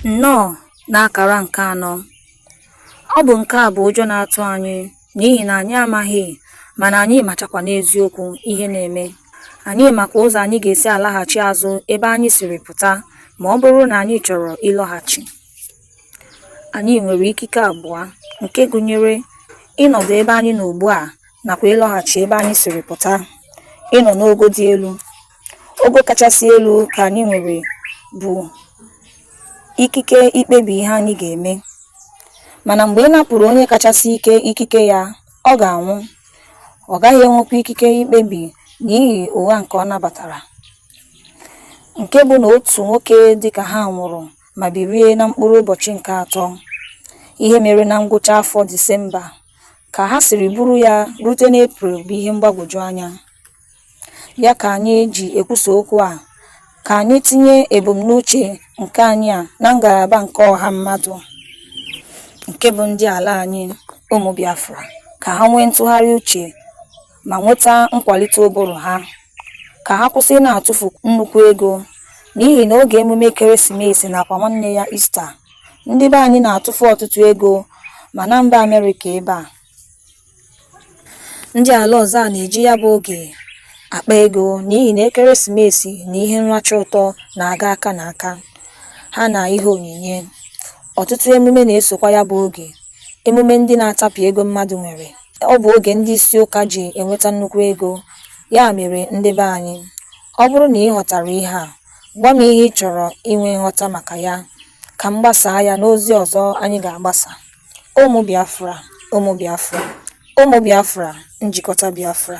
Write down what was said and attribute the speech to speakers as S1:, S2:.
S1: Nnọọ n'akara nke anọ, ọ bụ nke a bụ ụjọ na-atụ anyị n'ihi na anyị amaghị mana anyị machakwa n'eziokwu ihe na-eme. Anyị makwa ụzọ anyị ga-esi alaghachi azụ ebe anyị siri pụta ma ọ bụrụ na anyị chọrọ ịlọghachi. Anyị nwere ikike abụọ nke gụnyere ịnọdụ ebe anyị nọ ugbu a nakwa ịlọghachi ebe anyị siri pụta ịnọ n'ogo dị elu ogo kachasị elu ka anyị nwere bụ ikike ikpebi ihe anyị ga-eme mana mgbe ị napụrụ onye kachasị ike ikike ya ọ ga-anwụ ọ gaghị enwekwa ikike ikpebi n'ihi ụgha nke ọ nabatara nke bụ na otu nwoke dịka ha nwụrụ ma birie na mkpụrụ ụbọchị nke atọ ihe mere na ngwụcha afọ Disemba Ka ha siri buru ya rute n'April bụ ihe mgbagwoju anya. Ya ka anyị ji ekwusa okwu a ka anyị tinye ebumnuche nke anyị a na ngalaba nke ọha mmadụ nke bụ ndị ala anyị, ụmụ Biafra, ka ha nwee ntụgharị uche ma nweta nkwalite ụbụrụ ha ka ha kwụsị na-atụfu nnukwu ego n'ihi na oge emume ekeresimesi nakwa nwanne ya Ista ndị be anyị na-atụfu ọtụtụ ego ma na mba Amerịka ebe a ndị ala ọzọ a na-eji ya bụ oge akpa ego n'ihi na ekeresimesi na ihe nracha ụtọ na-aga aka na aka ha na ihe onyinye ọtụtụ emume na-esokwa ya bụ oge emume ndị na-atapụ ego mmadụ nwere ọ bụ oge ndị isi ụka ji enweta nnukwu ego ya mere ndị be anyị ọ bụrụ na ị ghọtara ihe a gwa m ihe ị chọrọ inwe nghọta maka ya ka m gbasaa ya n'ozi ọzọ anyị ga-agbasa ụmụ biafra ụmụ biafra ụmụ biafra njikọta biafra